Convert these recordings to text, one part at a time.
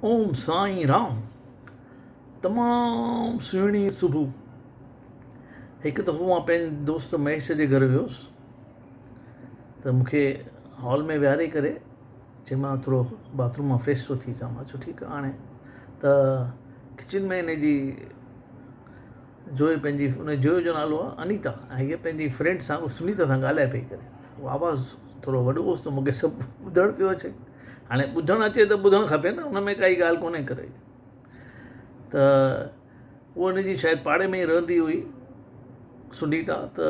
اوم سائين رام تمام سهڻي صبح هڪ دفعو مان پنهنجي دوست مهيش جي گهر ويوس ته مون کي هال ۾ ويهاري ڪري چي مان ٿورو باٿروم مان فريش ٿو ٿي چاهيان چو ٺيڪ آڻي ته ڪچن ۾ هن جي جو پنهنجي ان جو جو نالو آهي انيتا ۽ هيء پنهنجي فرينڊ سان سنيتا سان ڳالهائي پئي ڪري آواز ٿورو وڏو هوس ته مون کي سڀ ٻڌڻ پيو اچي هاڻي ٻڌڻ اچي ته ٻڌڻ کپي نه ان ۾ ڪائي ڳالهه ڪونهي ڪري ته هو ان جي شايد پاڙي ۾ ئي رهندي هئي سنيتا ته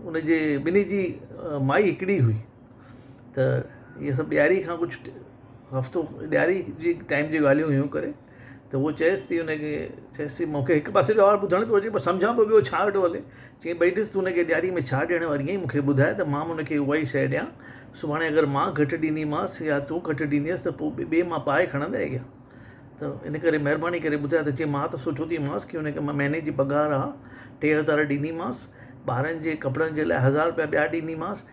ان جي ٻنهي جي مائي هڪڙي هئي ته هي سڀ ڏياري کان ڪجهه هفتو ڏياري جي ٽائيم جي ڳالهيون هيون ڪري ته هو چيس ٿي ان کي چيس ٿي مون کي هڪ پاسي جو حال ٻڌڻ پيو اچي پر سمجهان پيو ٻيو ڇا ويٺو هلي چيائين ڀئي ڏس تون ان کي ڏياري ۾ ڇا ڏيڻ واري آهين مون کي ٻڌاء ته مان به ان کي اها ئي شيء ڏيان سڀاڻي اگر مان گهٽ ڏينديمانس يا تون گهٽ ڏيندينس ته پوء ٻئي مان پائي کڻندينء ڪيئن ته ان ڪري مهرباني ڪري ٻڌاء ته چيائين مان ته سوچيو ٿي مانس ڪي ان کي مان مهيني جي پگهار آهي ٽي هزار ڏينديمانس ٻارن جي ڪپڙن جي لاء هزار روپيا ٻيا ڏينديمانس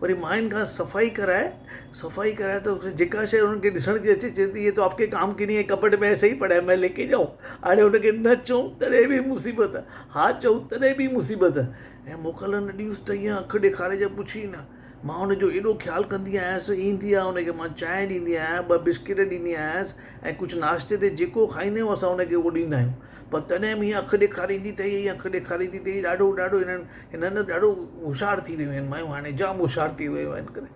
وري ماين کان صفائي ڪرائي صفائي ڪرائي ته جيڪا شيء انهن کي ڏسڻ ۾ اچي چيو ته ايه تو آپڪي ڪام ڪي نهي هي ڪٻٽ مي ايسي هي پڙا هي مي ليڪي جائو هاڻي ان کي نه چئون تڏهن به مصيبت ها چئون تڏهن به مصيبت ۽ موڪل نه ڏينس ته ايئن اک ڏيکاري جو پڇ ئي نه مان ان جو ايڏو خيال ڪندي آهيانس ايندي آهي ان کي مان چانهه ڏيندي آهيان ٻه بسڪٽ ڏيندي آهيانس ۽ ڪجهه ناشتي تي جيڪو کائيندي آهي اسان ان کي اهو ڏيندا آهيون پر تڏهن به هيء اک ڏيکاريندي ته هيء اک ڏيکاريندي ته هيء ڏاڍو ڏاڍو هنن هنن نه ڏاڍو هوشيار ٿي ويون آهن مايون هاڻي جام هوشيار ٿي ويون آهن ڪري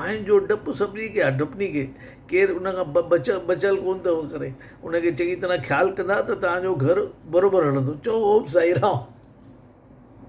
ماين جو ڊپ سڀني کي آهي ڊپني کي ڪير ان کان بچيل بچيل ڪونه اٿو ڪري ان کي چڱي طرح خيال ڪندا ته تنهنجو گهر بروبر هلندو چئو اوم سائي رام